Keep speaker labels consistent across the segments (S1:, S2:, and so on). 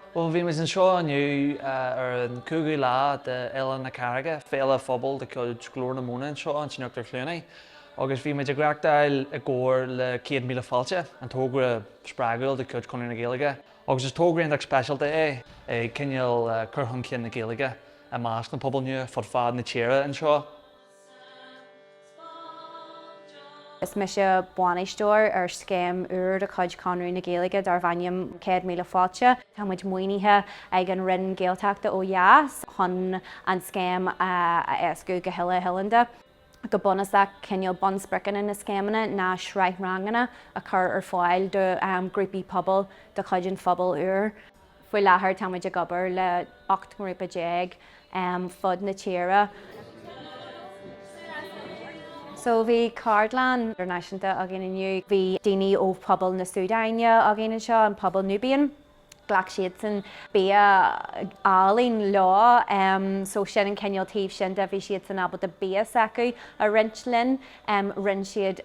S1: Bhuel, bhí muid anseo inniu ar an cúigiú lá de Fhéile na Carraige, féile phobail de chuid Ghlór na Móna anseo in Uachtar Chluanaí, agus bhí muid ag reachtáil i gcomhar le Céad Míle Fáilte, an tógra spreagúil de chuid Chonradh na Gaeilge, agus is tógra iontach speisialta é, ag cineál cur chun cinn na Gaeilge i measc na bpobal nua fud fad na tíre anseo.
S2: Is mise bainisteoir ar scéim úr de chuid Chonradh na Gaeilge darb ainm Céad Míle Fáilte. Tá muid maoinithe ag an Roinn Gaeltachta ó dheas chun an scéim a éascú go huile oileánda. Go bunúsach, cineál bunspriocanna na scéimeanna ná sraith ranganna a chur ar fáil do ghrúpaí pobail de chuid an phobail úir. Faoi láthair táimid ag obair le 18 ngrúpa fud fad na tíre. So bhí ceardlann idirnáisiúnta againn inniu. Bhí daoine ó phobal na Súdáine againn anseo, an pobal Nubian. Ghlac siadsan bia álainn leo so sin an cineál taobh sin de, bhí siadsan ábalta bia s'acu a roinnt linn. rinne siad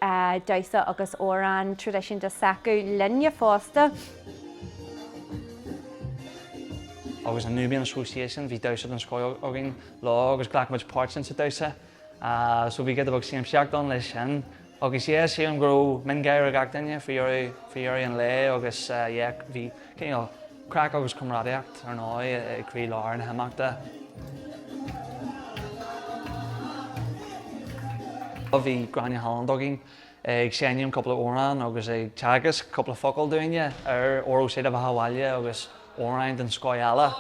S2: damhsa agus amhrán traidisiúnta s'acu linne
S1: fosta. Agus an Nubian Association bhí damhsa den scoth againn leo agus ghlac muid páirt insa damhsa so bhí giota beag siamsaíocht ann leis sin agus yeah sílim go raibh miongháire ar gach duine faoi dheireadh an lae agus yeah bhí Craic agus comrádaíocht, ar ndóigh, i gcroí lár na n-imeachtaí. Bhí Gráinne Holland againn ag seinm cúpla amhrán agus ag teagasc cúpla focal dúinne ar Óró Sé Do Bheatha Abhaile agus amhráin den scoth eile.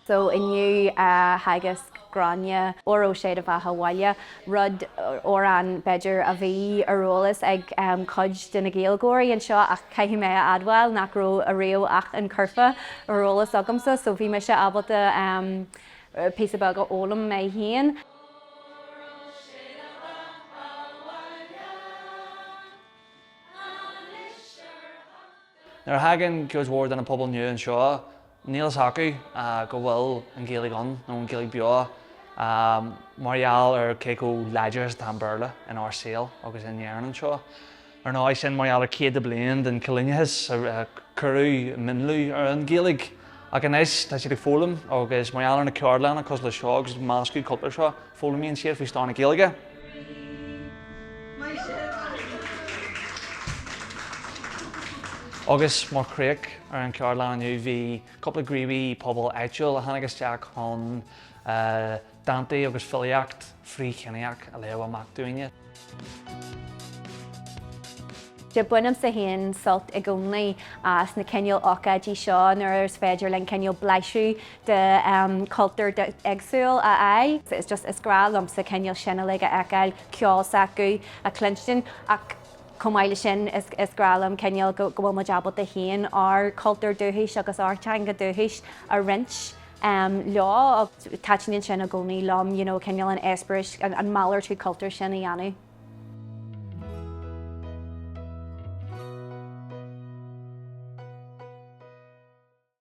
S2: So inniu theagasc Gráinne Óró Sé Do Bheatha Abhaile, rud, amhrán b'fhéidir, a bhí ar eolas ag cuid de na Gaeilgeoirí anseo ach caithfidh mé a admháil nach raibh ariamh ach an curfá ar eolas agamsa so bhí mise ábalta píosa beag a fhoghlaim mé féin.
S1: Nuair a thagann cuid mhór de na pobail nua anseo níl a fhios acu go bhfuil an Ghaeilge ann nó an Ghaeilge beo mar gheall ar cé chomh láidir is atá an Béarla in ár saol agus in Éirinn anseo. Ar ndóigh sin mar gheall ar céadta bliain den choilíneachas a cuireadh mionlú ar an Ghaeilge ach anois tá siad ag foghlaim agus mar gheall ar na ceardlanna cosúil le seo agus an meascadh cultúir seo, Foghlaimíonn siad faoi stair na Gaeilge. Agus mar chríoch ar an cheardlann inniu bhí cúpla gníomhaí pobail áitiúil a tháinig isteach chun dántaí agus filíocht frith-chiníoch a léamh amach dúinn.
S2: Bainimse féin sult i gcónaí as na cineál ócáidí seo nuair is féidir linn cineál blaiseadh de chultúr éagsúil a fháil. Is just, is grá liomsa cineál sin uilig a fheiceáil, ceol s'acu a chluinstin ach chomh maith le sin is grá liom cineál go bhfuil muid ábalta fiú ár chultúr dúchais agus ár dteanga dúchais a roinnt. em, leo ach taitníonn sin i gcónaí liom you know cineál an eispéireas, an malartú cultúir sin a dhéanamh.